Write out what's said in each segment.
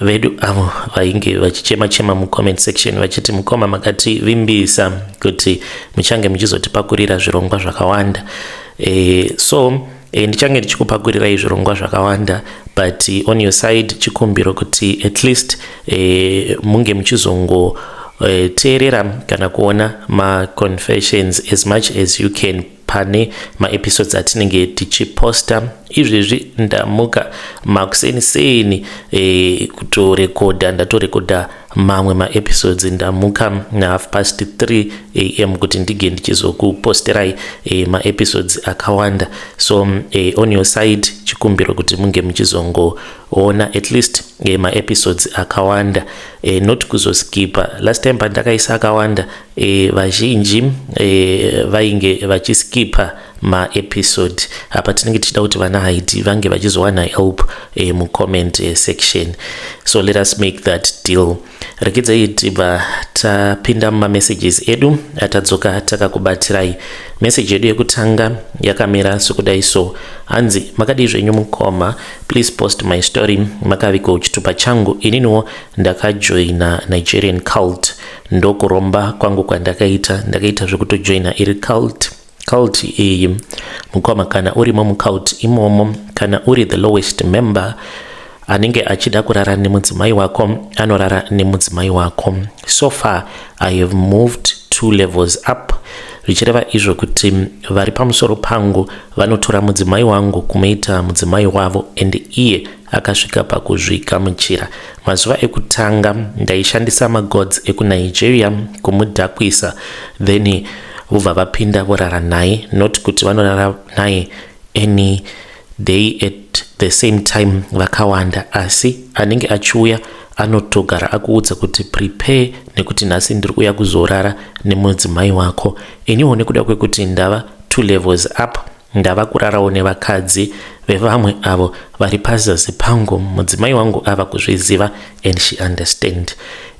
vedu avo vainge vachichema chema mucomment section vachiti mukoma makativimbisa kuti muchange muchizotipakurira zvirongwa zvakawanda e, so e, ndichange ndichikupakurirai zvirongwa zvakawanda but on your side chikumbiro kuti at least e, munge muchizongo e, teerera kana kuona maconfessions as much as you can pane maepisodes atinenge tichiposta izvezvi ndamuka makuseni seni e, eh, kutorekodha ndatorekodha mamwe maepisodes ndamuka nahalf past 3 am kuti ndige ndichizokuposterai e, maepisodes akawanda so e, on your side chikumbiro kuti munge muchizongoona at least e, maepisodes akawanda e, not kuzoskipa last time pandakaisa akawanda e, vazhinji e, vainge vachiskipa maepisode apa tinenge tichida kuti vana haiti vange vachizowana help e, mucomment e, section so let us make that deal rekedzai tibva tapinda mumamessages edu atadzoka takakubatsirai meseji yedu yekutanga yakamira sokudai so hanzi makadii zvenyu mukoma please post my story makaviko chitupa changu ininiwo ndakajoina nigerian cult ndokuromba kwangu kwandakaita ndakaita zvekutojoina iri cult cult iyi mukoma kana urimo mucult imomo kana uri the lowest member anenge achida kurara nemudzimai wako anorara nemudzimai wako so far i have moved two levels up zvichireva izvo kuti vari pamusoro pangu vanotora mudzimai wangu kumuita mudzimai wavo and iye akasvika pakuzvigamuchira. Mazuva ekutanga ndaishandisa magods ekuNigeria kumudhakwisa then vobva vapinda vorara naye not kuti vanorara naye any day at the same time vakawanda asi anenge achiuya anotogara akuudza kuti prepare nekuti nhasi ndiri kuuya kuzorara nemudzimai wako iniwo nekuda kwekuti ndava two levels up Ndava kurarawo nevakadzi vevamwe avo vari pazasi pangu mudzimai wangu ava kuzviziva and she understand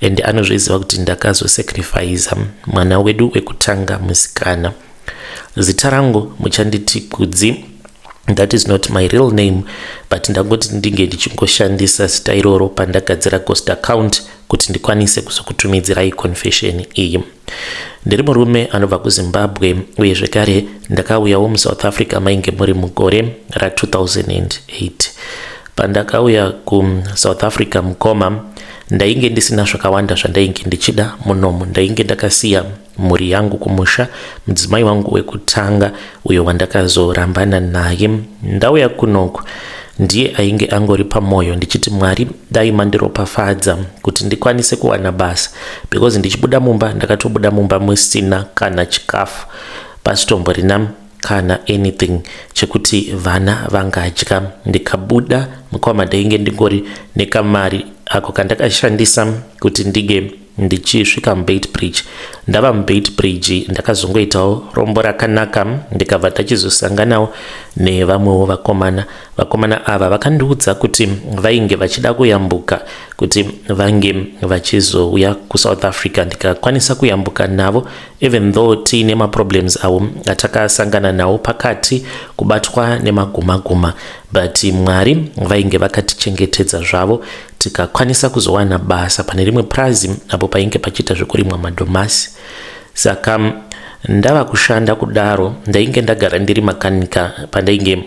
and anozviziva kuti ndakazosacrifiza mwana wedu wekutanga musikana zita rangu muchanditi kudzi that is not my real name but ndangoti ndinge ndichingoshandisa zita iroro pandagadzira cost account kuti ndikwanise kuzokutumidzirai confession iyi ndiri murume anobva kuzimbabwe uye zvekare ndakauyawo musouth africa mainge muri mugore ra2008 pandakauya kusouth africa mukoma ndainge ndisina zvakawanda zvandainge ndichida munomu ndainge ndakasiya mhuri yangu kumusha mudzimai wangu wekutanga uyo wandakazorambana naye ndauya kunoku ndiye ainge angori pamwoyo ndichiti mwari dai mandiropafadza kuti ndikwanise kuwana basa because ndichibuda mumba ndakatobuda mumba musina kana chikafu pasitomborina kana anything chekuti vana vangadya ndikabuda mukoma ndainge ndingori nekamari ako kandakashandisa kuti ndige ndichisvika mubeitbridge ndava mubeitbridge ndakazongoitawo rombo rakanaka ndikabva tachizosanganawo nevamwewo vakomana vakomana ava vakandiudza kuti vainge vachida kuyambuka kuti vange vachizouya kusouth africa ndikakwanisa kuyambuka navo even though tiine maproblems avo atakasangana nawo pakati kubatwa nemagumaguma but mwari vainge vakatichengetedza zvavo tikakwanisa kuzowana basa pane rimwe purazi apo painge pachiita zvekurimwa madomasi saka ndava kushanda kudaro ndainge ndagara ndiri makanika pandainge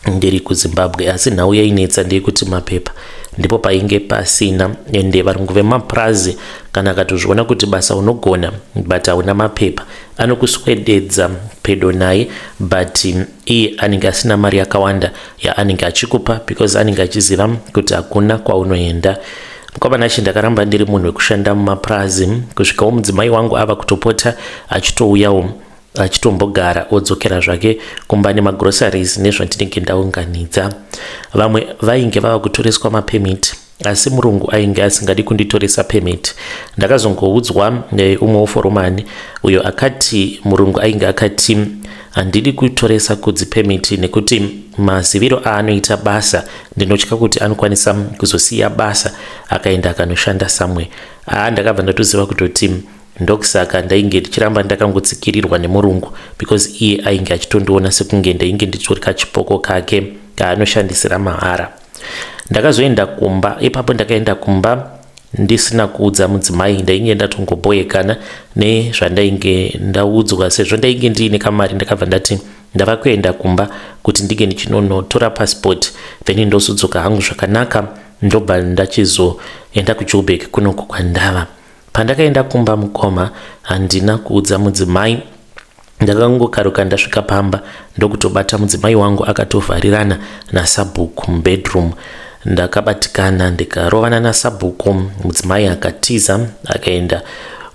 ndiri kuzimbabwe asi nhau yainetsa ndeyekuti mapepa ndipo painge pasina ende varungu vemapurazi kana akatozviona kuti basa unogona but hauna mapepa anokuswededza pedo naye but iye anenge asina mari yakawanda yaanenge achikupa because anenge achiziva kuti hakuna kwaunoenda mukomana she ndakaramba ndiri munhu wekushanda mumapurazi kusvikawo mudzimai wangu ava kutopota achitouyawo achitombogara odzokera zvake kumba nemagroceries nezvandinenge ndaunganidza vamwe vainge vava kutoreswa mapemiti asi murungu ainge asingadi kunditoresa permit ndakazongoudzwa neumwe woforomani uyo akati murungu ainge akati handidi kutoresa kudzi permit nekuti maziviro aanoita basa ndinotya kuti anokwanisa kuzosiya basa akaenda akanoshanda samwe aa ndakabva ndatoziva kutoti ndokusaka ndainge ndichiramba ndakangotsikirirwa nemurungu because iye ainge achitondiona sekunge ndainge ndichorika chipoko kake kaanoshandisira mahara ndakazoenda kumba ipapo ndakaenda kumba ndisina kuudza mudzimai ndainge ndatongoboekana nezvandainge ndaudzwa sezvo ndainge ndiine kamari ndakabva ndati ndava kuenda kumba kuti ndinge ndichinonotora pasipoti then ndozodzoka hangu zvakanaka ndobva ndachizoenda kujoburg kunoko kwandava Pandakaenda kumba mukoma handina kuudza mudzimai ndakangokaruka ndasvika pamba ndokutobata mudzimai wangu akatovharirana nasabhuku mubedroom ndakabatikana ndikarovana nasabhuku mudzimai akatiza akaenda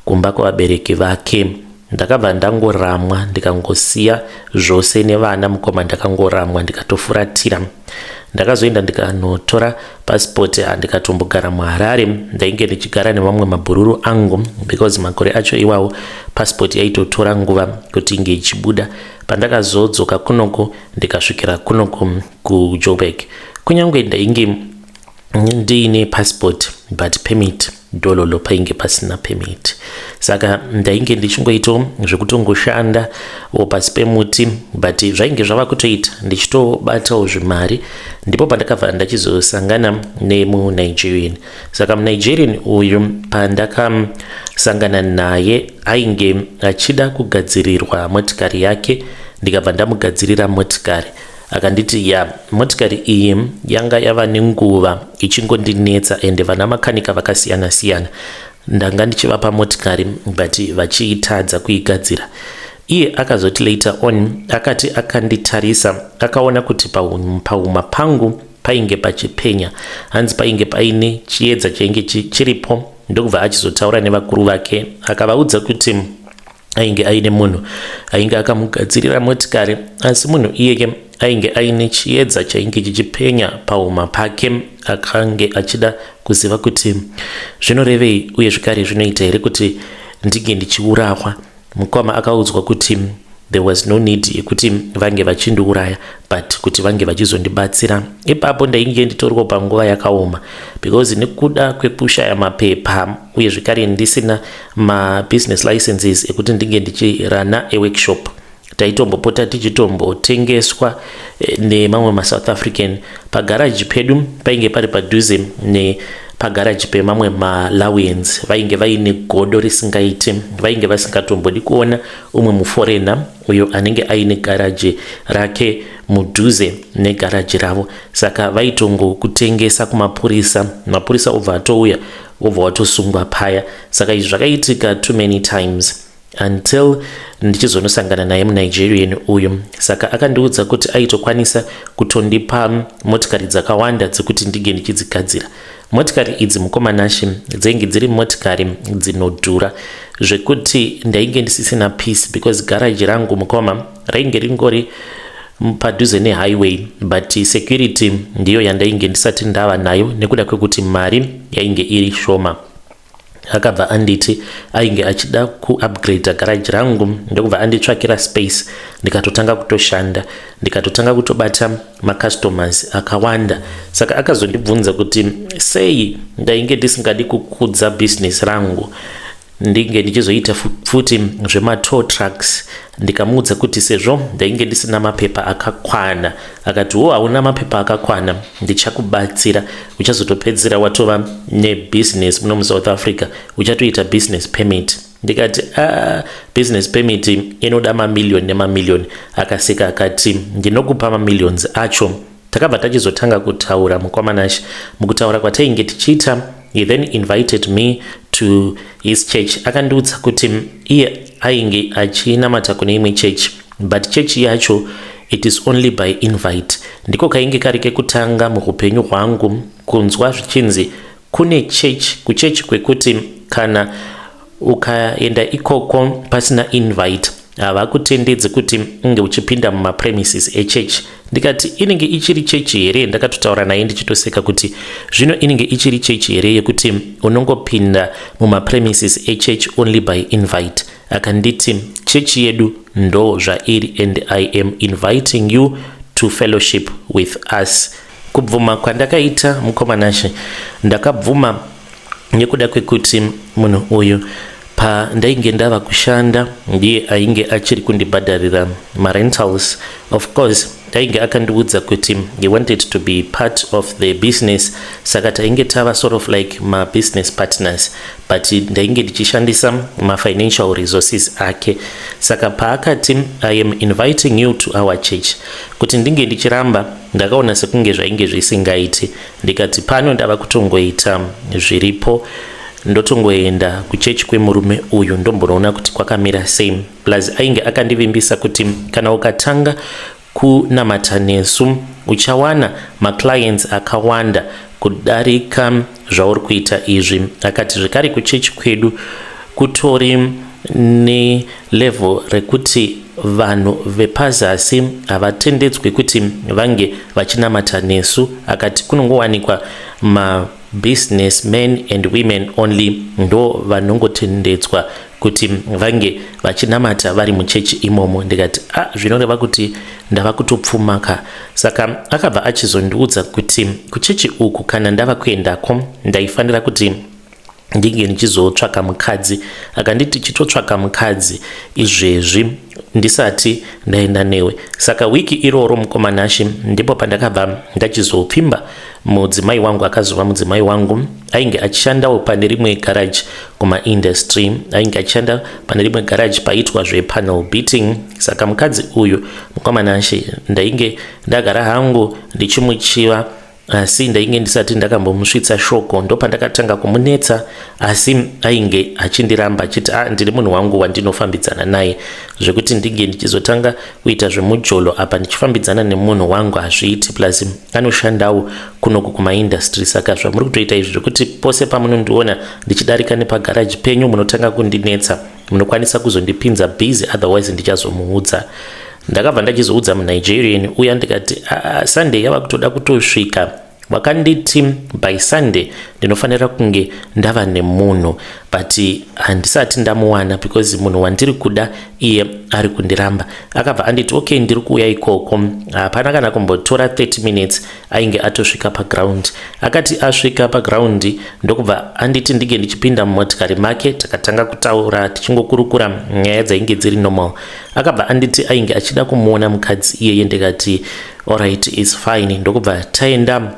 kumba kwavabereki vake ndakabva ndangoramwa ndikangosiya zvose nevana mukoma ndakangoramwa ndikatofuratira ndakazoenda ndikanotora pasipoti ah, ndikatombogara muharare ndainge ndichigara nevamwe mabhururu angu because makore acho iwawo pasipoti yaitotora nguva kuti inge ichibuda pandakazodzoka kunoko ndikasvikira kunoko kujoburg kunyange ndainge ndiine pasipoti but permit dololo painge pasina permit saka ndainge ndichingoito zvekutongoshanda o pasi pemuti but zvainge zvava kutoita ndichitobatawo zvimari ndipo pandakabva ndachizosangana nemunigerian saka munigerian uyu pandakasangana naye ainge achida kugadzirirwa motikari yake ndikabva ndamugadzirira motikari Akanditi ya motikari iyi yanga yava nenguva ichingondinetsa ende vana makanika vakasiyana siyana ndanga ndichivapa motikari but vachiitadza kuigadzira iye akazoti later on akati akanditarisa akaona kuti pahuma pangu painge pachipenya hanzi painge paine chiedza chainge chiripo ndokubva achizotaura nevakuru vake akavaudza kuti ainge aine munhu ainge akamugadzirira motikari asi munhu iyeye ainge aine chiedza chainge chichipenya pahuma pake akange achida kuziva kuti zvinorevei uye zvikare zvinoita here kuti ndinge ndichiurawa mukoma akaudzwa kuti there was no need yekuti vange vachindiuraya but kuti vange vachizondibatsira ipapo ndainge nditoriwo panguva yakaoma because nekuda kwekushaya mapepa uye zvekare ndisina mabusiness licenses ekuti ndinge ndichirana eworkshop taitombopota tichitombotengeswa eh, nemamwe masouth african pagaraji pedu painge pari padhuze nepagaraji pemamwe malawians vainge vaine godo risingaiti vainge vasingatombodi kuona umwe muforena uyo anenge aine garaji rake mudhuze negaraji ravo saka vaitongokutengesa kumapurisa mapurisa obva atouya wobva watosungwa paya saka izvi zvakaitika too many times until ndichizonosangana naye munigerian uyu saka akandiudza kuti aitokwanisa kutondipa motikari dzakawanda dzekuti ndige ndichidzigadzira motikari idzi mukomanashe dzainge dziri motikari dzinodhura zvekuti ndainge ndisisina peace because garaji rangu mukoma rainge ringori padhuze nehighway but security ndiyo yandainge ndisati ndava nayo nekuda kwekuti mari yainge iri shoma akabva anditi ainge achida kuupgrade garaji rangu ndokubva anditsvakira space ndikatotanga kutoshanda ndikatotanga kutobata macustomers akawanda saka akazondibvunza kuti sei ndainge ndisingadi kukudza business rangu ndinge ndichizoita futi zvematow trucks ndikamuudza kuti sezvo ndainge ndisina mapepa akakwana akati wo hauna mapepa akakwana ndichakubatsira uchazotopedzera watova nebusiness muno musouth africa uchatoita business permit ndikati a ah, business permit inoda mamillioni nemamillioni akaseka akati ndinokupa mamillions acho Takabva tachizotanga kutaura mukoma Nash. Mukutaura kwatainge tichiita, he then invited me to his church. Akandiudza kuti iye ainge achinamata kune imwe church but church yacho it is only by invite. Ndiko kainge kari kekutanga muhupenyu hwangu kunzwa zvichinzi Kune church kuchurch kwekuti kana ukaenda ikoko pasina invite havakutendedzi kuti unge uchipinda mumapremises echurch ndikati inenge ichiri chechi here ndakatotaura naye ndichitoseka kuti zvino inenge ichiri chechi here yekuti unongopinda mumapremises echurch only by invite akanditi chechi yedu ndo zvairi and i am inviting you to fellowship with us Kubvuma kwandakaita mukoma Nashe ndakabvuma nekuda kwekuti munhu uyu pandainge ndava kushanda ndiye ainge achiri kundibhadharira marentals of course ainge akandiudza kuti he wanted to be part of the business saka tainge tava sort of like mabusiness partners but ndainge ndichishandisa mafinancial resources ake saka paakati i am inviting you to our church kuti ndinge ndichiramba Ndakaona sekunge zvainge zvisingaiti ndikati pano ndava kutongoita zviripo ndotongoenda kuchechi kwemurume uyu ndombonoona kuti kwakamira sei plus ainge akandivimbisa kuti kana ukatanga kunamata nesu uchawana maclients akawanda kudarika zvauri kuita izvi akati zvekare kuchechi kwedu kutori nelevel rekuti vanhu vepazasi havatendedzwi kuti vange vachinamata nesu akati kunongowanikwa mabusiness men and women only ndo vanongotendedzwa kuti vange vachinamata vari muchechi imomo ndikati a ah, zvinoreva kuti ndava kutopfuma ka saka akabva achizondiudza kuti kuchechi uku kana ndava kuendako ndaifanira kuti ndinge ndichizotsvaka mukadzi akanditi chitotsvaka mukadzi izvezvi ndisati ndaenda newe saka wiki iroro mukomanashe ndipo pandakabva ndachizopfimba mudzimai wangu akazova mudzimai wangu ainge achishandawo pane rimwe garaji kumaindustry ainge achishanda pane rimwe garaji paitwa zvepanel beating saka mukadzi uyu mukoma Nashe ndainge ndagara hangu ndichimuchiva asi ndainge ndisati ndakambomusvitsa shoko ndopandakatanga kumunetsa asi ainge achindiramba achiti ah ndiri munhu wangu wandinofambidzana naye zvekuti ndinge ndichizotanga kuita zvemujolo apa ndichifambidzana nemunhu wangu hazviiti plus anoshandawo kunoku kumaindastry saka zvamuri kutoita izvi zvekuti pose pamunondiona ndichidarika nepagaraji penyu munotanga kundinetsa munokwanisa kuzondipinza busy otherwise ndichazomuudza ndakabva ndachizoudza munigerian uya ndikati ah, ah, sunday yava kutoda kutosvika vakanditi by sunday ndinofanira kunge ndava nemunhu but handisati ndamuwana because munhu wandiri kuda iye ari kundiramba akabva anditi okay ndiri kuuya ikoko hapana kana kumbotora 30 minutes ainge atosvika paground akati asvika paground ndokubva anditi ndinge ndichipinda mumotikari make takatanga kutaura tichingokurukura nyaya dzainge dziri normal akabva anditi ainge achida kumuona mukadzi iyeye ndikati orit is fine ndokubva taenda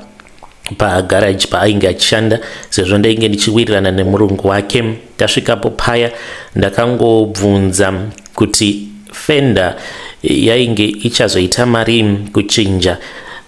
pagaraji paainge achishanda sezvo ndainge ndichiwirirana nemurungu wake tasvikapo paya ndakangobvunza kuti fenda yainge ichazoita mari kuchinja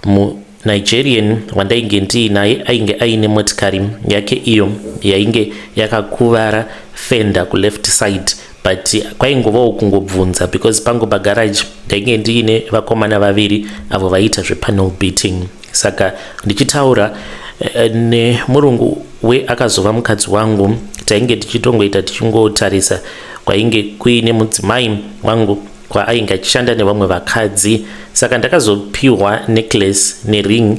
munigerian wandainge ndiinaye ainge aine motikari yake iyo yainge yakakuvara fenda kuleft side but kwaingovawo kungobvunza because pangu pagaraji ndainge ndiine vakomana vaviri avo vaiita zvepanel beating saka ndichitaura eh, nemurungu we akazova mukadzi wangu tainge tichitongoita tichingotarisa kwainge kuine mudzimai wangu kwaainge achishanda nevamwe vakadzi saka ndakazopiwa necklace nering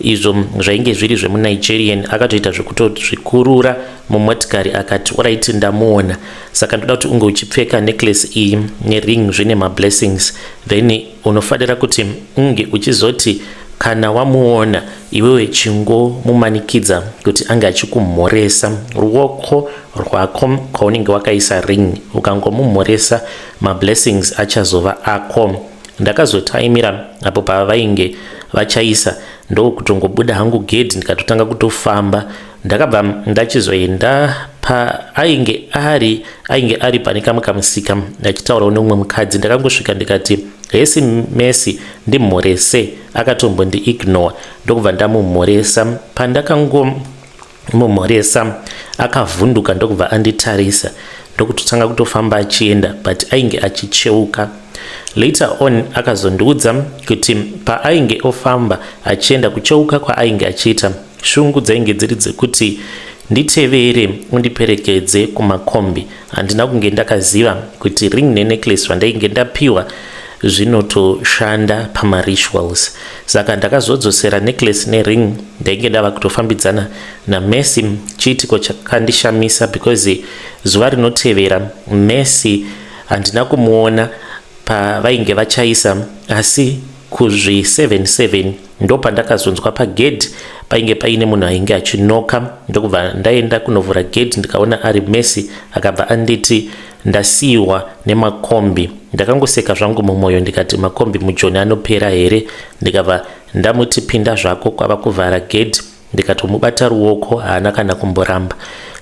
izvo zvainge zviri zvemunigerian akatoita zvekutozvikurura mumotikari akati orit ndamuona saka ndoda kuti unge uchipfeka necklace iyi nering zvine mablessings then Unofanira kuti unge uchizoti kana wamuona iwewe chingomumanikidza kuti ange achikumhoresa ruoko rwako kwaunenge wakaisa ring ukangomumhoresa mablessings achazova ako ndakazotaimira apo pavainge vachaisa ndokutongobuda hangu gedhi ndikatotanga kutofamba ndakabva ndachizoenda paainge ari ainge ari pane kamwe kamusika achitaurawo neumwe mukadzi ndakangosvika ndikati hesi mesi ndimhorese akatombondi ignore ndokubva ndamumhoresa pandakangomumhoresa akavhunduka ndokubva anditarisa ndokutotanga kutofamba achienda but ainge achicheuka later on akazondiudza kuti paainge ofamba achienda kucheuka kwaainge achiita Shungu dzainge dziri dzekuti nditevere undiperekedze kumakombi handina kunge ndakaziva kuti ring nenecklace vandainge ndapiwa zvinotoshanda pamarituals saka ndakazodzosera necklace nering ndainge ndava kutofambidzana namessy chiitiko chakandishamisa because zuva rinotevera messy handina kumuona pavainge vachaisa asi kuzvi 77 ndopandakazonzwa pagedhi painge paine munhu ainge achinoka ndokubva ndaenda kunovhura gedhi ndikaona ari mesi akabva anditi ndasiyiwa nemakombi ndakangoseka zvangu mumwoyo ndikati makombi mujoni anopera here ndikabva ndamuti pinda zvako kwava kuvhara gedhi ndikatomubata ruoko haana kana kumboramba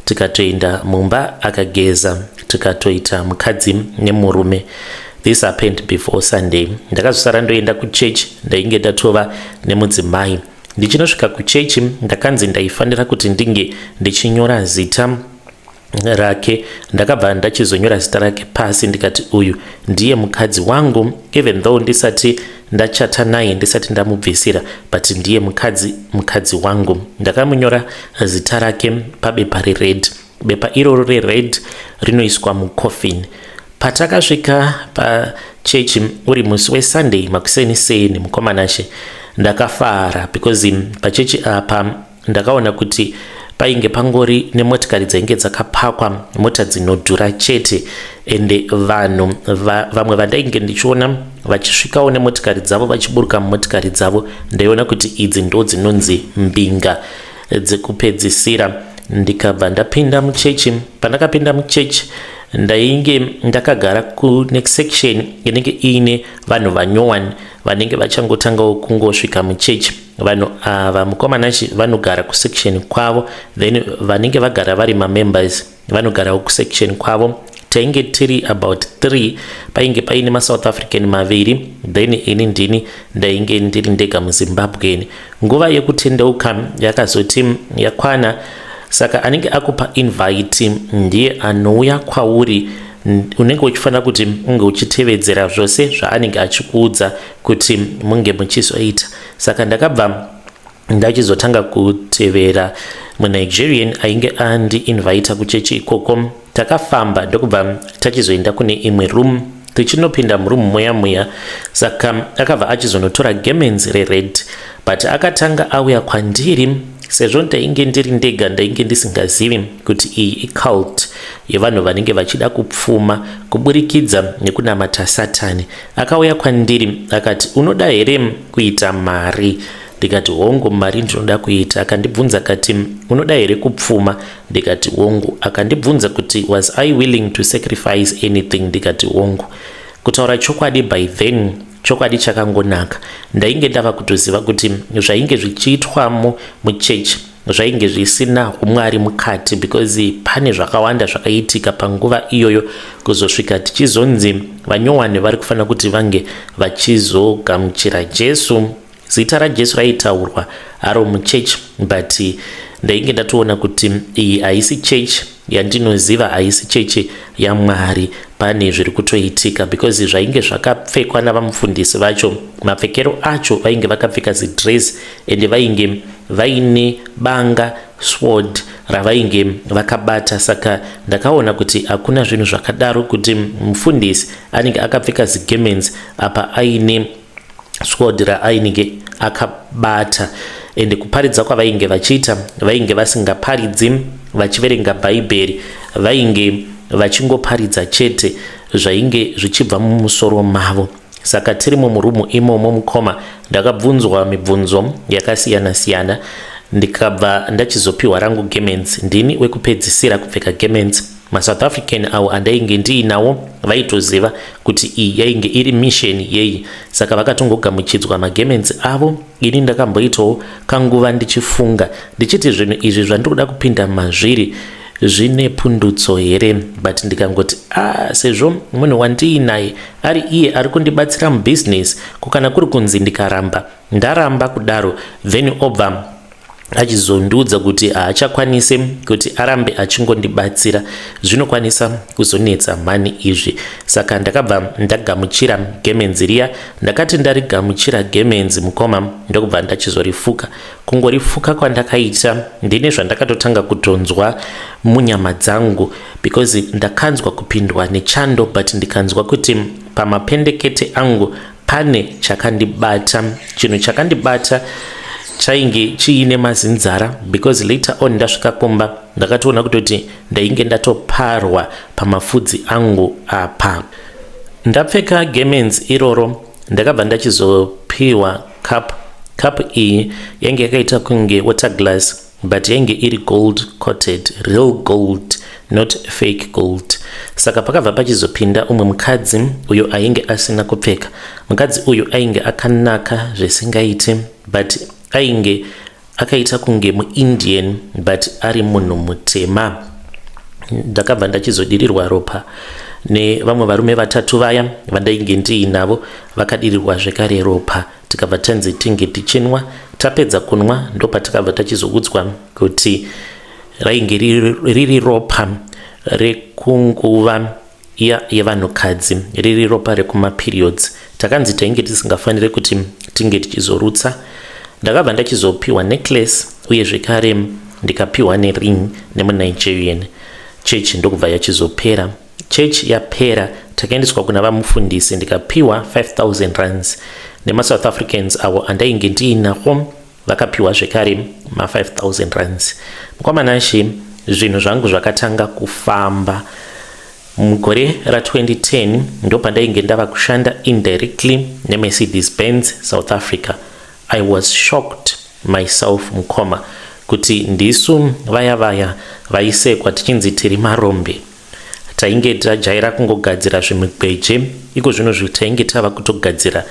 tikatoenda mumba akageza tikatoita mukadzi nemurume this happened before sunday ndakazosara ndoenda kuchurch ndainge ndatova nemudzimai ndichinosvika kuchechi ndakanzi ndaifanira kuti ndinge ndichinyora zita rake ndakabva ndachizonyora zita rake pasi ndikati uyu ndiye mukadzi wangu even though ndisati ndachata naye ndisati ndamubvisira but ndiye mukadzi mukadzi wangu ndakamunyora zita rake pabepa rered bepa iroro rered rinoiswa mucoffin patakasvika pachechi uri musi wesunday makuseni seni mukomanashe ndakafara because pachechi apa ndakaona kuti painge pangori nemotikari dzainge dzakapakwa mota dzinodhura chete ende vanhu va, vamwe vandainge ndichiona vachisvikawo nemotikari dzavo vachiburuka mumotikari dzavo ndaiona kuti idzi ndo dzinonzi mbinga dzekupedzisira ndikabva ndapinda muchechi pandakapinda muchechi ndainge ndakagara kunext section inenge iine vanhu vanyowani vanenge vachangotangawo kungosvika muchechi vanhu ava mukomana chi vanogara kusection kwavo then vanenge vagara vari mamembers vanogarawo kusection kwavo tainge tiri about 3 painge paine masouth african maviri then ini ndini ndainge ndiri ndega muzimbabwen nguva yekutendeuka yakazoti yakwana saka anenge akupa invite ndiye anouya kwauri unenge uchifanira kuti unge uchitevedzera zvose zvaanenge achikuudza kuti munge muchizoita saka ndakabva ndachizotanga kutevera munigerian ainge andi invita kuchechi ikoko takafamba ndokubva tachizoenda kune imwe room tichinopinda muroom muya muya saka akabva achizonotora gemens rered but akatanga auya kwandiri sezvo ndainge ndiri ndega ndainge ndisingazivi kuti iyi icult yevanhu vanenge vachida kupfuma kuburikidza nekunamata satani Akauya kwandiri akati, unoda here kuita mari? ndikati hongu mari ndinoda kuita akandibvunza akati unoda here kupfuma ndikati hongu akandibvunza kuti was i willing to sacrifice anything ndikati hongu kutaura chokwadi by then chokwadi chakangonaka ndainge ndava kutoziva kuti zvainge zvichiitwamo muchechi zvainge zvisina umwari mukati because pane zvakawanda zvakaitika panguva iyoyo kuzosvika tichizonzi vanyowani vari kufanira kuti vange vachizogamuchira jesu zita rajesu raitaurwa aro muchechi but ndainge ndatoona kuti iyi haisi chechi yandinoziva haisi chechi yamwari pane zviri kutoitika because zvainge zvakapfekwa navamufundisi vacho mapfekero acho vainge vakapfeka zidress ende vainge vaine banga sword ravainge vakabata saka ndakaona kuti hakuna zvinhu zvakadaro kuti mufundisi anenge akapfeka zigemens apa aine sword raainge akabata ende kuparidza kwavainge vachiita vainge vasingaparidzi vachiverenga bhaibheri vainge vachingoparidza chete zvainge zvichibva mumusoro mavo Saka tirimo murumu imomo mukoma ndakabvunzwa mibvunzo yakasiyana siyana ndikabva ndachizopiwa rangu gements ndini wekupedzisira kupfeka gements masouth african awo andainge ndiinawo vaitoziva kuti iyi yainge iri mission yei saka vakatongogamuchidzwa magements avo ini ndakamboitawo kanguva ndichifunga ndichiti zvinhu izvi zvandiri kuda kupinda mazviri zvine pundutso here but ndikangoti ah sezvo munhu wandiinaye ari iye ari kundibatsira mubusiness ko kana kuri kunzi ndikaramba ndaramba kudaro then obva achizondiudza kuti haachakwanise kuti arambe achingondibatsira zvinokwanisa kuzonetsa mhani izvi saka ndakabva ndagamuchira gemenzi riya ndakati ndarigamuchira gemenzi mukoma ndokubva ndachizorifuka kungorifuka kwandakaita ndine zvandakatotanga kutonzwa munyama dzangu because ndakanzwa kupindwa nechando but ndikanzwa kuti pamapendekete angu pane chakandibata chinhu chakandibata chainge chiine mazinzara because later on ndasvika kumba ndakatoona kutoti ndainge ndatoparwa pamafudzi angu apa ndapfeka gemens iroro ndakabva ndachizopiwa cup cup iyi yange yakaita kunge water glass but yange iri gold coated real gold not fake gold saka pakabva pachizopinda umwe mukadzi uyo ainge asina kupfeka mukadzi uyu ainge akanaka zvisingaiti but ainge akaita kunge muindian but ari munhu mutema ndakabva ndachizodirirwa ropa nevamwe varume vatatu vaya vandainge ndiinavo vakadirirwa zvekare ropa tikabva tanzi tinge tichinwa tapedza kunwa ndopatikabva tachizoudzwa kuti rainge riri ropa rekunguva iya yevanhukadzi riri ropa rekumaperiods takanzi tainge tisingafanire kuti tinge tichizorutsa ndakabva ndachizopiwa necklace uye zvekare ndikapiwa nering nemunigerian church ndokubva yachizopera church yapera takaendeswa kuna vamufundisi ndikapiwa 5000 runs nemasouth africans avo andainge ndiinako vakapiwa zvekare ma 5000 rands mukoma nashe zvinhu zvangu zvakatanga kufamba mugore ra 2010 ndopandainge ndava kushanda indirectly nemercedes benz south africa i was shocked myself mukoma kuti ndisu vaya vaya vaisekwa tichinzi tiri marombe tainge tajaira kungogadzira zvimigweje iko zvino zvi tainge tava kutogadzira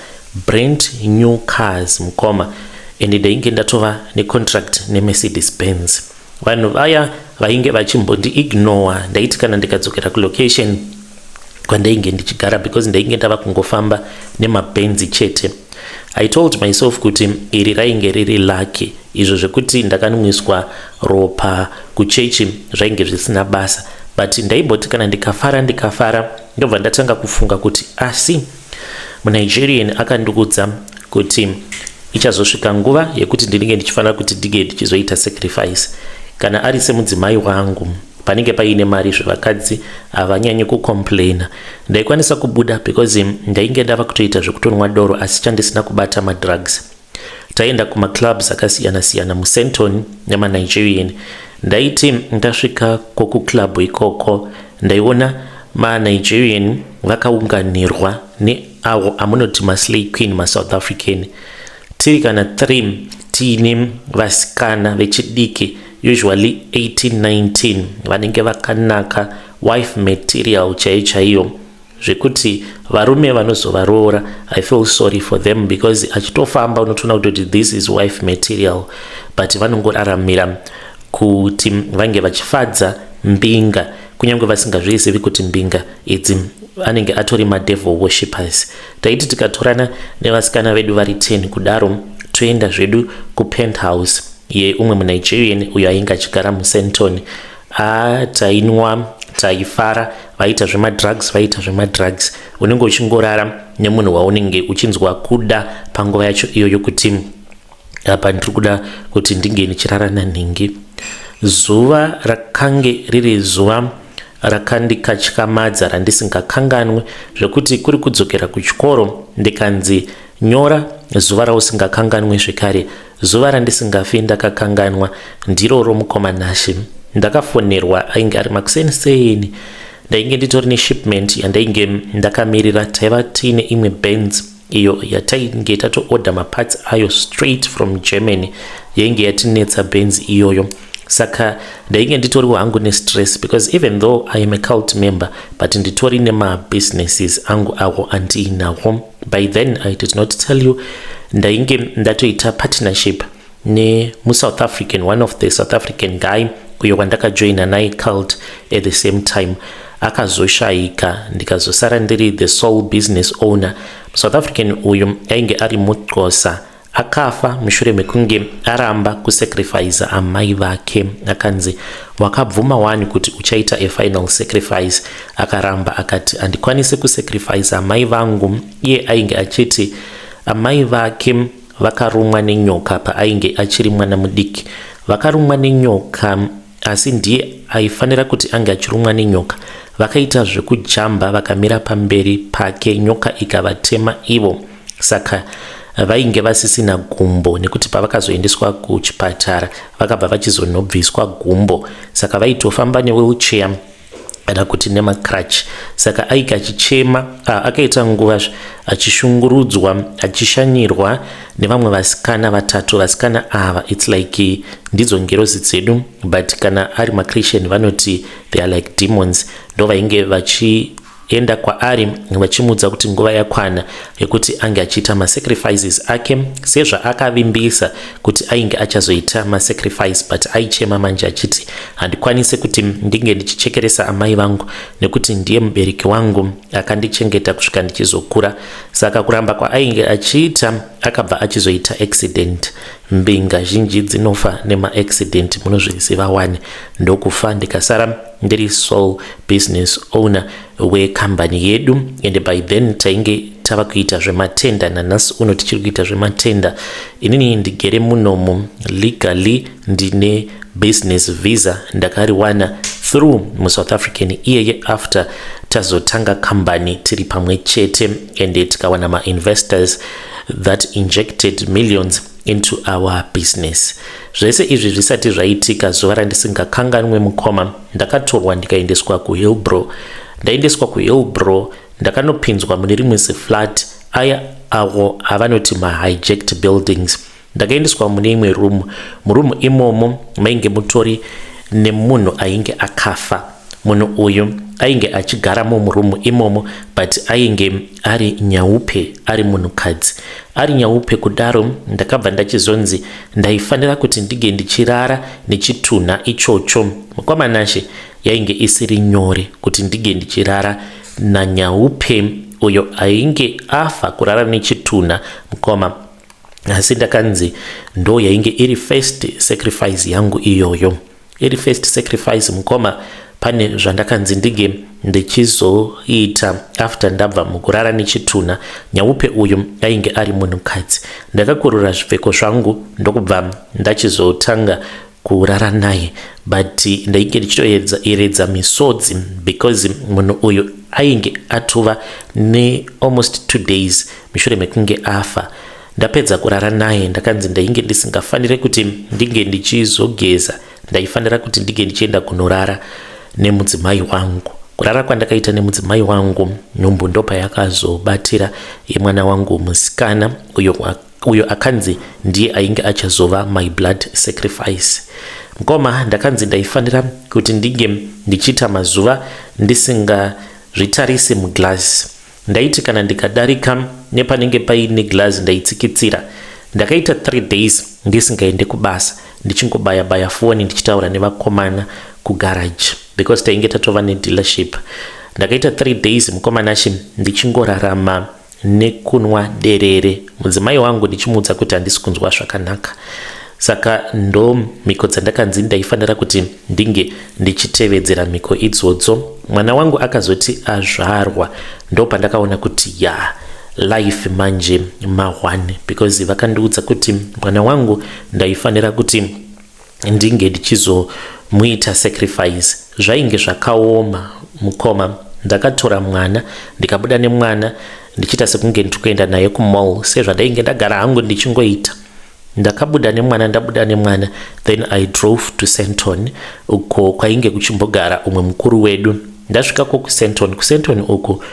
brand new cars mukoma and ndainge ndatova necontract nemercedes benz vanhu vaya vainge vachimbondi ignore ndaiti kana ndikadzokera kulocation kwandainge ndichigara because ndainge ndava kungofamba nemabenzi chete i told myself kuti iri rainge riri lucky izvo zvekuti ndakanwiswa ropa kuchechi zvainge zvisina basa but ndaiboti kana ndikafara ndikafara ndobva ndatanga kufunga kuti asi munigerian akandikudza kuti ichazosvika nguva yekuti ndinenge ndichifanira kuti ndinge ndichizoita sacrifice kana ari semudzimai wangu panenge paine mari zvevakadzi havanyanyi kucomplaina ndaikwanisa kubuda because ndainge ndava kutoita zvekutonwa doro asi chandisina kubata madrugs Taienda kumaclubs akasiyana siyana muSenton nemaNigerian. Ndaiti ndasvika kokuclub ikoko ndaiona maNigerian vakaunganirwa neavo amunoti maslay queen masouth african tiri kana three tiine vasikana vechidiki usually 1819 vanenge vakanaka wife material chaiyo chaiyo zvekuti varume vanozovaroora i feel sorry for them because achitofamba unotoona kutoti this is wife material but vanongoraramira kuti vange vachifadza mbinga kunyange vasingazvizivi kuti mbinga idzi anenge atori madevil worshippers taiti tikatorana nevasikana vedu vari 10 kudaro toenda zvedu kupenthouse yeumwe munigerian uyo ainge achigara musenton haa tainwa taifara vaita zvemadrugs vaita zvemadrugs unenge uchingorara nemunhu waunenge uchinzwa kuda panguva yacho iyo yokuti apa ndiri kuda kuti ndinge ndichirara nanhingi zuva rakange riri zuva rakandikatyamadza randisingakanganwe zvekuti kuri kudzokera kuchikoro ndikanzi nyora zuva rausingakanganwe zvekare Zuva randisingafi ndakakanganwa ndiro romukoma Nashe. Ndakafonerwa ainge ari makuseni seni. Ndainge nditori neshipment yandainge ndakamirira taiva tiine imwe Benz iyo yatainge tatoorder maparts ayo straight from Germany yainge yatinetsa Benz iyoyo saka ndainge nditoriwo hangu nestress because even though i am a cult member but nditori nemabusinesses angu awo andiinawo by then i did not tell you ndainge ndatoita partnership nemusouth african one of the south african guy uyo wandakajoina naye cult at the same time akazoshayika ndikazosara ndiri the sole business owner south african uyu ainge ari muxosa akafa mushure mekunge aramba kusacrifice amai vake akanzi wakabvuma wani kuti uchaita a final sacrifice akaramba akati handikwanise kusacrifice amai vangu iye ainge achiti amai vake vakarumwa nenyoka paainge achiri mwana mudiki vakarumwa nenyoka asi ndiye aifanira kuti ange achirumwa nenyoka vakaita zvekujamba vakamira pamberi pake nyoka ikavatema ivo saka vainge vasisina gumbo nekuti pavakazoendeswa kuchipatara vakabva vachizonobviswa gumbo saka vaitofamba newheelchair kana kuti nemacrutch saka aika achichema akaita nguva achishungurudzwa achishanyirwa nevamwe vasikana vatatu vasikana ava its like ndidzo ngirozi dzedu but kana ari machritian vanoti they are like demons ndo vainge vachi enda kwaari vachimuudza kuti nguva yakwana yekuti ange achiita masacrifices ake sezvaakavimbisa kuti ainge achazoita masacrifice but aichema manje achiti handikwanise kuti ndinge ndichichekeresa amai vangu nekuti ndiye mubereki wangu akandichengeta kusvika ndichizokura saka kuramba kwaainge achiita akabva achizoita accident mbinga zhinji dzinofa nemaaccident munozviziva wani ndokufa ndikasara ndiri sole business owner wekambani yedu ende by then tainge tava kuita zvematenda nanhasi uno tichiri kuita zvematenda inini ndigere munomu legally ndine business visa ndakariwana through musouth african iyeye after tazotanga kambani tiri pamwe chete ende tikawana mainvestors that injected millions into our business. Zvese izvi zvisati zvaitika zuva randisingakanganwe mukoma ndakatorwa ndikaendeswa kuHillbrow. Ndaendeswa kuHillbrow ndakanopinzwa mune rimwe ziflat aya avo avanoti mahijacked buildings. Ndakaendeswa mune imwe room. Muroom imomo mainge mutori nemunhu ainge akafa. Munhu uyu ainge achigaramo muroom imomo but ainge ari nyaupe ari munhukadzi ari nyaupe kudaro ndakabva ndachizonzi ndaifanira kuti ndige ndichirara nechitunha ichocho mukwamanashe yainge isiri nyore kuti ndige ndichirara nanyaupe uyo ainge afa kurara nechitunha mukoma asi ndakanzi ndo yainge iri first sacrifice yangu iyoyo iri first sacrifice mukoma pane zvandakanzi ndinge ndichizoita after ndabva mukurara nechitunha nyaupe uyu ainge ari munhukadzi ndakakurura zvipfeko zvangu ndokubva ndachizotanga kurara naye but ndainge ndichitoeredza misodzi because munhu uyu ainge atova nealmost two days mushure mekunge afa Ndapedza kurara naye ndakanzi ndainge ndisingafanire kuti ndinge ndichizogeza, ndaifanira kuti ndinge ndichienda kunorara nemudzimai wangu. Kurara kwandakaita nemudzimai wangu nhumbu ndopa yakazobatira yemwana wangu musikana uyo uyo akanzi ndiye ainge achazova my blood sacrifice mkoma ndakanzi ndaifanira kuti ndinge ndichiita mazuva ndisingazvitarise muglass Ndaiti kana ndikadarika nepanenge paine glazi ndaitsikitsira. Ndakaita 3 days ndisingaende kubasa ndichingobaya baya foni ndichitaura nevakomana kugarage because tainge tatova nedealership. Ndakaita 3 days mukomana achi ndichingorarama nekunwa derere mudzimai wangu ndichimuudza kuti handisi kunzwa zvakanaka saka ndomhiko dzandakanzi ndaifanira kuti ndinge ndichitevedzera mhiko idzodzo mwana wangu akazoti azvarwa ndopandakaona kuti ya yeah, life manje mahwani because vakandiudza kuti mwana wangu ndaifanira kuti ndinge ndichizomuita sacrifice zvainge zvakaoma mukoma ndakatora mwana ndikabuda nemwana ndichiita sekunge ndiri kuenda naye kumall sezvandainge ndagara hangu ndichingoita Ndakabuda nemwana ndabuda nemwana then I drove to Senton uko kwainge kuchimbogara umwe mukuru wedu. Ndasvika ko kuSenton, kuSenton uku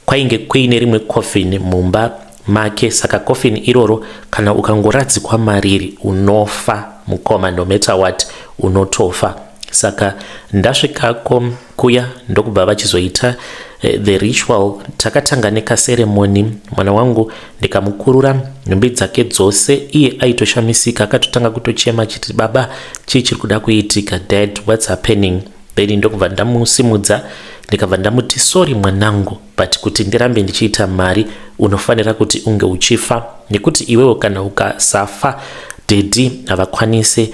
kwainge kuine rimwe coffin mumba make saka coffin iroro kana ukangoradzikwa mariri unofa mukoma no matter what unotofa saka ndasvikako kuya ndokubva vachizoita eh, the ritual takatanga nekaseremoni mwana wangu ndikamukurura nhumbi dzake dzose iye aitoshamisika akatotanga kutochema chiti baba chii chiri kuda kuitika dad whats happening then ndokubva ndamusimudza ndikabva ndamuti sorry mwanangu but kuti ndirambe ndichiita mari unofanira kuti unge uchifa nekuti iwewo kana ukasafa dedi havakwanise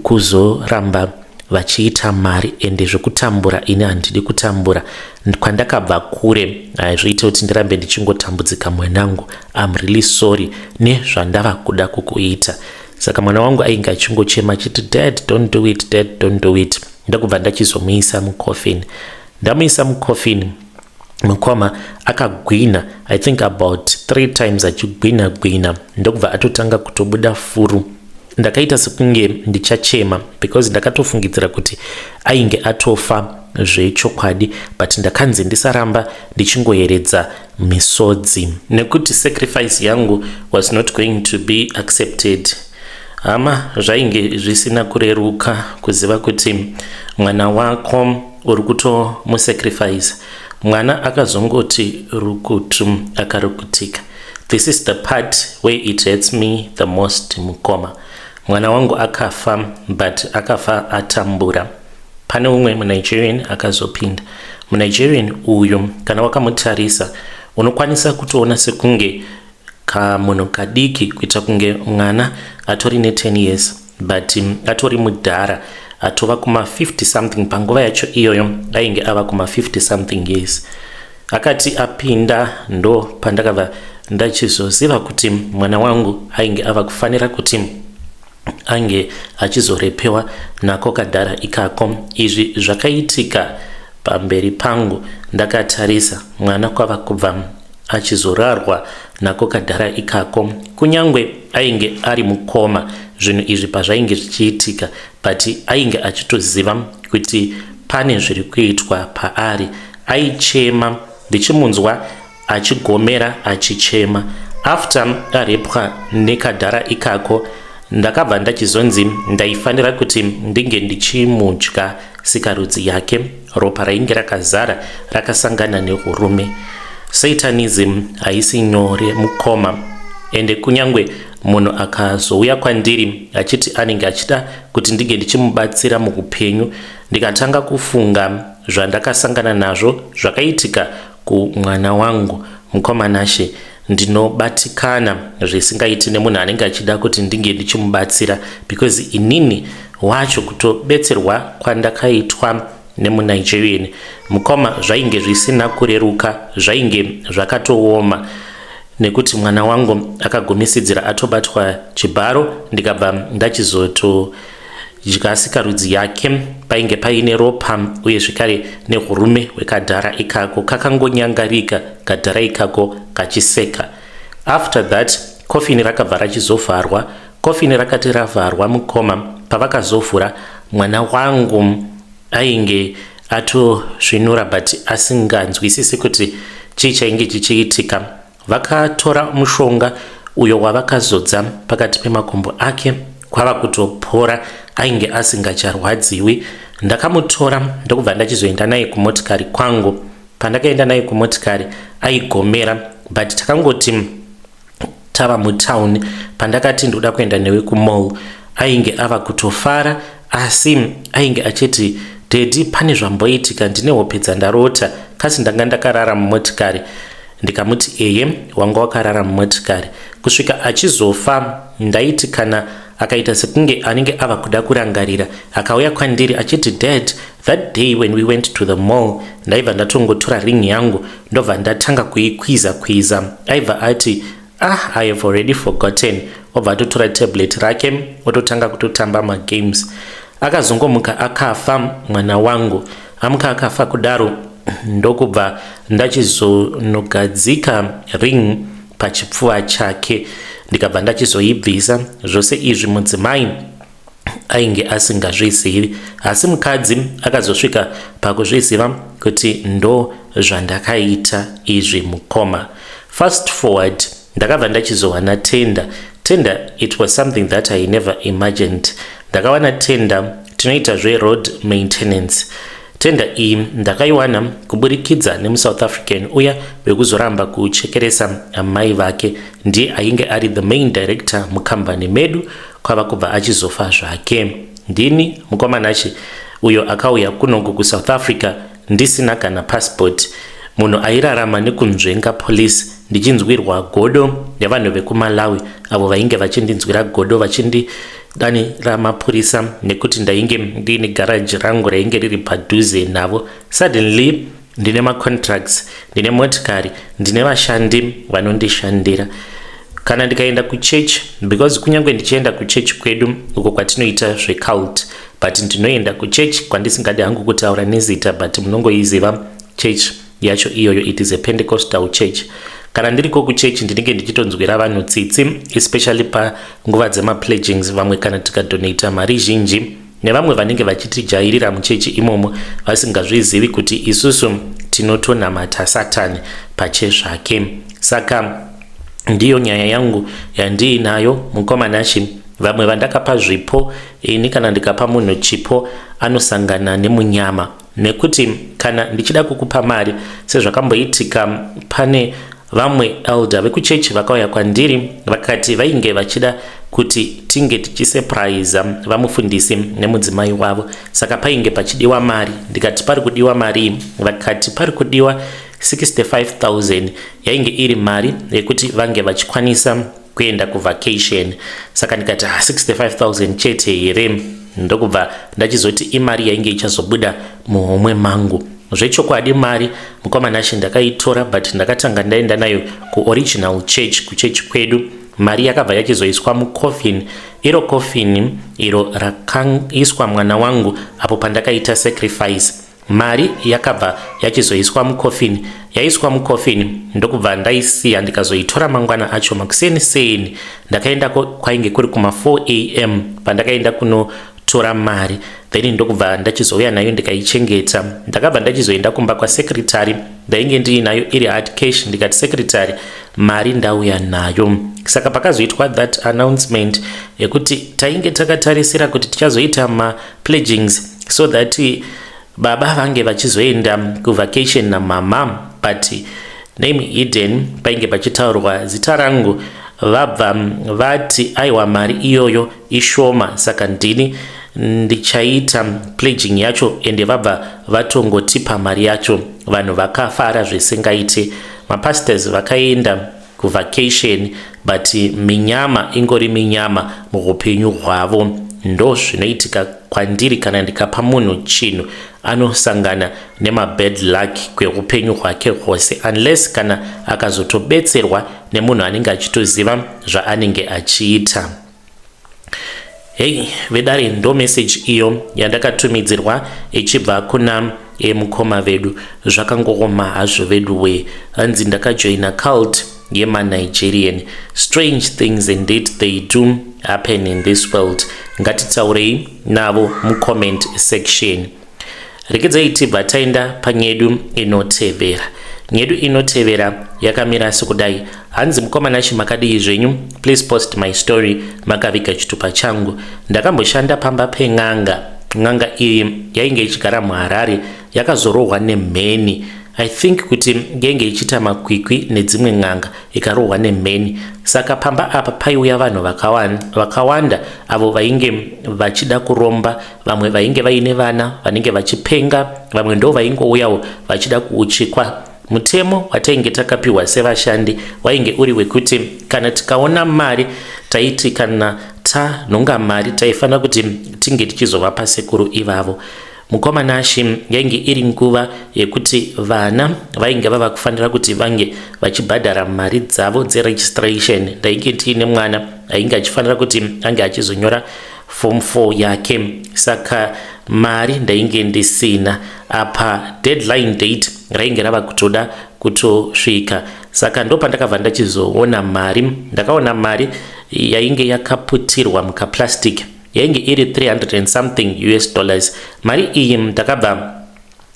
kuzoramba vachiita mari ende zvekutambura ini handidi kutambura kwandakabva kure haizviite kuti ndirambe ndichingotambudzika mwanangu am really sorry nezvandava kuda kukuita saka mwana wangu ainge achingochema achiti dad don't do it dad don't do it ndakubva ndachizomuisa mucoffin ndamuisa mucoffin mukoma akagwina i think about three times achigwina gwina ndokubva atotanga kutobuda furu ndakaita sekunge ndichachema because ndakatofungidzira kuti ainge atofa zvechokwadi but ndakanzi ndisaramba ndichingoyeredza misodzi nekuti sacrifice yangu was not going to be accepted hama zvainge zvisina kureruka kuziva kuti mwana wako uri kutomusacrifice mwana akazongoti rukutu akarukutika this is the part where it hurts me the most mukoma mwana wangu akafa but akafa atambura pane umwe munigerian akazopinda munigerian uyu kana wakamutarisa unokwanisa kutoona sekunge kamunhu kadiki kuita kunge mwana atori ne 10 years but um, atori mudhara atova kuma 50 something panguva yacho iyoyo ainge ava kuma 50 something years akati apinda ndo pandakabva ndachizoziva kuti mwana wangu ainge ava kufanira kuti ange achizorepewa nako kadhara ikako izvi zvakaitika pamberi pangu ndakatarisa mwana kwava kubva achizorarwa nako kadhara ikako kunyange ainge ari mukoma zvinhu izvi pazvainge zvichiitika but ainge achitoziva kuti pane zviri kuitwa paari aichema ndichimunzwa achigomera achichema after arepwa nekadhara ikako ndakabva ndachizonzi ndaifanira kuti ndinge ndichimudya sikarudzi yake Ropa rainge rakazara rakasangana nehurume. Satanism haisi nyore mukoma ende kunyangwe munhu akazouya kwandiri achiti anenge achida kuti ndinge ndichimubatsira muhupenyu ndikatanga kufunga zvandakasangana nazvo zvakaitika Ku mwana wangu mukoma Nashe ndinobatikana zvisingaiti nemunhu anenge achida kuti ndinge ndichimubatsira because inini wacho kutobetserwa kwandakaitwa nemunigerian mukoma zvainge zvisina kureruka zvainge zvakatooma nekuti mwana wangu akagumisidzira atobatwa chibharo ndikabva ndachizoto dya sikarudzi yake painge paine ropa uye zvekare nehurume hwekadhara ikako kakangonyangarika kadhara ikako kachiseka after that kofini rakabva rachizovharwa kofini rakati ravharwa mukoma pavakazovhura mwana wangu ainge atosvinura but asinganzwisisi kuti chii chainge chichiitika Vakatora mushonga uyo wavakazodza pakati pemakumbo ake kwava kutopora ainge asingacharwadziwi. Ndakamutora ndokubva ndachizoenda naye kumotikari kwangu. Pandakaenda naye kumotikari aigomera but takangoti tava mutown pandakati ndoda kuenda newe kumall ainge ava kutofara asi ainge achiti dedi pane zvamboitika ndine hope dzandarota kasi ndanga ndakarara mumotikari ndikamuti eye wanga wakarara mumotikari kusvika achizofa ndaiti kana akaita sekunge anenge ava kuda kurangarira akauya kwandiri achiti dad that day when we went to the mall ndaibva ndatongotora ring yangu ndobva ndatanga kuikwiza kwiza aibva ati ah i have already forgotten obva atotora tablet rake ototanga kutotamba magames akazongomuka akafa mwana wangu amuka akafa kudaro ndokubva ndachizonogadzika ring pachipfuva chake ndikabva ndachizoibvisa zvose izvi mudzimai ainge asingazvizivi asi mukadzi akazosvika pakuzviziva kuti ndo zvandakaita izvi mukoma fast forward ndakabva ndachizowana tenda tenda it was something that i never imagined ndakawana tenda tinoita zveroad maintenance Tender iyi ndakaiwana kuburikidza nemusouth african uya wekuzoramba kuchekeresa amai vake ndiye ainge ari the main director mukambani medu kwava kubva achizofa zvake ndini mukomanachi uyo akauya kunoku kusouth africa ndisina kana passport munhu airarama nekunzvenga police ndichinzwirwa godo nevanhu vekumalawi avo vainge vachindinzwira godo vachindi dani ramapurisa nekuti ndainge ndiine garaji rangu rainge riri padhuze navo suddenly ndine macontracts ndine motikari ndine vashandi vanondishandira kana ndikaenda kuchechi because kunyange ndichienda kuchechi kwedu uko kwatinoita zvecult but ndinoenda kuchechi kwandisingadi hangu kutaura nezita but munongoiziva chechi yacho iyoyo it is a pentecostal church kana ndiriko kuchurch ndinenge ndichitonzwira vanhu tsitsi especially panguva dzemapledgings vamwe kana tikadonata mari zhinji nevamwe vanenge vachitijairira muchechi imomo vasingazvizivi kuti isusu tinotonamata satani pache zvake saka ndiyo nyaya yangu yandiinayo mukoma nashi vamwe vandakapa zvipo ini kana ndikapa munhu chipo anosangana nemunyama nekuti kana ndichida kukupa mari sezvakamboitika pane vamwe elder vekuchechi vakauya kwandiri vakati vainge vachida kuti tinge tichisepraiza vamufundisi nemudzimai wavo saka painge pachidiwa mari ndikati pari kudiwa marii vakati pari kudiwa 65000 yainge iri mari yekuti vange vachikwanisa kuenda kuvacation saka ndikati ha ah, 65000 chete here ndokubva ndachizoti imari yainge ichazobuda muhomwe mangu zvechokwadi mari mukoma nashe ndakaitora but ndakatanga ndaenda nayo kuoriginal church kuchechi kwedu mari yakabva yachizoiswa mucoffin iro coffin iro rakaiswa mwana wangu apo pandakaita sacrifice Mari yakabva yachizoiswa mucoffin yaiswa mucoffin ndokubva ndaisiya ndikazoitora mangwana acho makuseni seni ndakaendako kwainge kuri kuma 4 am pandakaenda kunotora mari then ndokubva ndachizouya nayo ndikaichengeta ndakabva ndachizoenda kumba kwasekretary ndainge ndiinayo iri hard cash ndikati sekretary mari ndauya nayo saka pakazoitwa that announcement yekuti tainge takatarisira kuti tichazoita ma pledgings so that baba vange vachizoenda kuvacation namama but name hidden painge pachitaurwa zita rangu vabva vati aiwa mari iyoyo ishoma saka ndini ndichaita pledging yacho ende vabva vatongotipa mari yacho vanhu vakafara zvisingaite mapastors vakaenda kuvacation but minyama ingori minyama muhupenyu hwavo ndo zvinoitika kwandiri kana ndikapa munhu chinhu anosangana nemabad luck kweupenyu hwake hwose unless kana akazotobetserwa nemunhu anenge achitoziva zvaanenge achiita Hey vedare ndo message iyo yandakatumidzirwa ichibva kuna emukoma vedu zvakangooma hazvo vedu wee hanzi ndakajoina cult yemanigerian strange things indeed they do happen in this world ngatitaurei navo mucomment section Regedzai tibva taenda panyedu inotevera. Nyedu inotevera yakamira sekudai. Hanzi mukoma Nashi makadii zvenyu? Please post my story makaviga chitupa changu. Ndakamboshanda pamba pen'anga. N'anga iyi yainge ichigara muHarare yakazorohwa nemheni. I think kuti yainge ichiita makwikwi nedzimwe n'anga ikarohwa nemheni. Saka pamba apa paiuya vanhu vakawanda avo vainge vachida kuromba vamwe vainge vaine vana vanenge vachipenga vamwe ndo vaingouyawo vachida kuuchikwa mutemo watainge takapiwa sevashandi wainge uri wekuti kana tikaona mari taiti kana tanhonga mari taifanira kuti tinge tichizovapa sekuru ivavo mukoma nashi yainge iri nguva yekuti vana vainge vava kufanira kuti vange vachibhadhara mari dzavo dzeregistration ndainge tiine mwana ainge achifanira kuti ange achizonyora form 4 yake saka mari ndainge ndisina apa deadline date rainge rava kutoda kutosvika saka ndo pandakabva ndachizoona mari ndakaona mari yainge yakaputirwa mukaplastic yainge iri 300 and something us dollars mari iyi ndakabva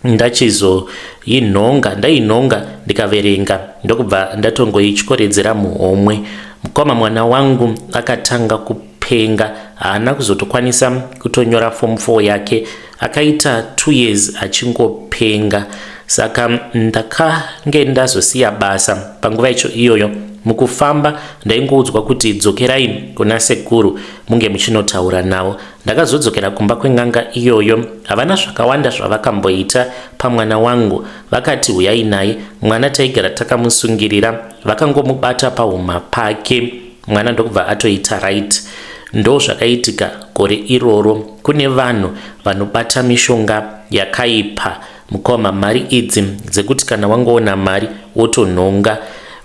ndachizoinhonga ndainhonga ndikaverenga ndokubva ndatongoityoredzera muhomwe mukoma mwana wangu akatanga kupenga haana kuzotokwanisa kutonyora form 4 yake akaita two years achingopenga saka ndakange ndazosiya basa panguva icho iyoyo mukufamba ndaingoudzwa kuti dzokerai kuna sekuru munge muchinotaura navo Ndakazodzokera kumba kwen'anga iyoyo. Havana zvakawanda zvavakamboita pamwana wangu. Vakati huyai naye, mwana taigara takamusungirira. Vakangomubata pahuma pake, mwana ndokubva atoita right. Ndo zvakaitika gore iroro. Kune vanhu vanobata mishonga yakaipa Mukoma mari idzi dzekuti kana wangoona mari wotonhonga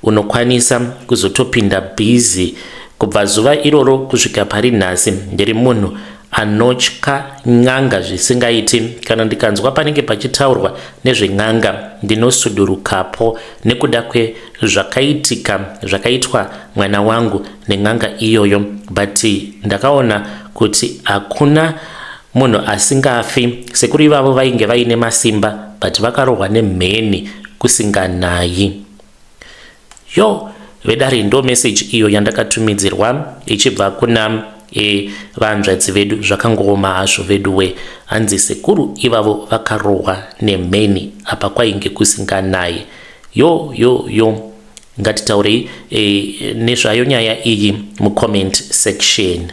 unokwanisa kuzotopinda busy kubva zuva iroro kusvika pari nhasi ndiri munhu anotya n'anga zvisingaiti kana ndikanzwa panenge pachitaurwa nezven'anga ndinosudurukapo nekuda kwezvakaitika zvakaitwa mwana wangu nen'anga iyoyo but ndakaona kuti hakuna Munhu asingafi. Sekuru ivavo vainge vaine masimba but vakarohwa nemheni kusinganayi. Yo vedare ndo message iyo yandakatumidzirwa ichibva kuna e vanzvadzi vedu zvakangooma hazvo veduwe hanzi sekuru ivavo vakarohwa nemheni apa kwainge kusinganayi yo yo yo ngatitaurei e, nezvayo nyaya iyi mucomment section